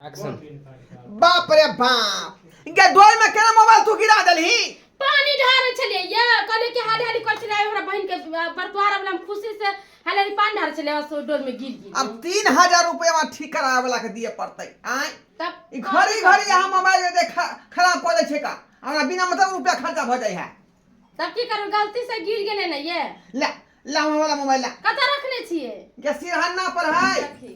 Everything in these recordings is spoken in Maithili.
एक्शन बाप रे बाप गे डोल में केना मोबाइल तू गिरा देलही पानी ढारे छलिए या कहले कि हाली हाली कर छलिए हमरा बहन के बरतवार वाला हम खुशी से हाली हाली पानी ढारे छलिए सो डोल में गिर गिर अब 3000 रुपया में ठीक करावे वाला के दिए पड़तै आय तब ई घड़ी घड़ी हम मोबाइल दे खराब कर दे छै का हमरा बिना मतलब रुपया खर्चा भ जाय है तब की करू गलती से गिर गेले न ये ले लावा वाला मोबाइल ला कत रखने छिए के सिरहन्ना पर है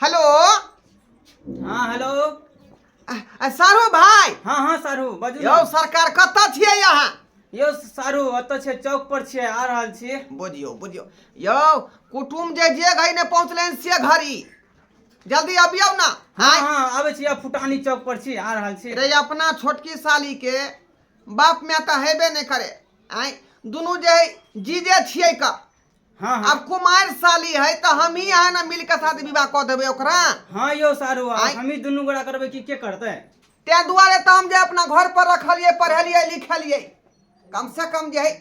हेलो हाँ हेलो आ- आ, सारू भाई हाँ हाँ सारू बाजू यौ ने। सरकार कतऽ छियै अहाँ यौ सारू ओतऽ छै चौक पर छियै आ रहल छी बुझियौ बुझियौ यौ कुटुम जे जे घड़ी ने पहुँचलनि से घड़ी जल्दी अबियौ ना हाँ आय हाँ आबै छी आब फुटानी चौक पर छी आ रहल छी रे अपना छोटकी साली के बाप माय तऽ हेबे नहि करे आय दुनू जे है जीजे छियै का हाँ हाँ अब कुमार साली है तो हम ही यहाँ ना मिल के साथ विवाह कर देवे ओकरा हाँ यो सारू आ, आँय। हम ही दुनू गोड़ा करबै कि के करतै ते दुआरे तो हम जे अपना घर पर रखलिए पढ़लिए लिखलिए कम से कम जे है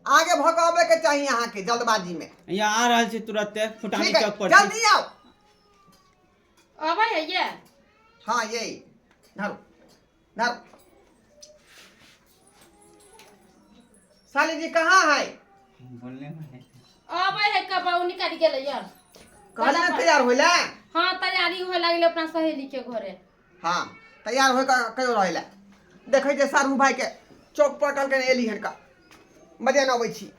आगे भगावे के चाहिए यहाँ के जल्दबाजी में यहाँ आ रहल छी तुरते फुटानी ठीक है चौक पर छी। जल्दी आओ अबै है ये हाँ यही धरू धर साली जी कहाँ है बोलने में है। अबै है कब उ निकल गेलै यार कहले ना तैयार होइला हाँ तैयारी होए लागलै अपना सहेली के घरे हाँ तैयार होय का कहियो रहेला देखै छै सारू भाई के चौक पर कल के एली हन का बजे न अबै छी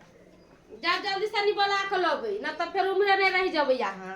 जा जल्दी से निबला के लबै ना तऽ फेर उम्हरे नहि रहि जेबै अहाँ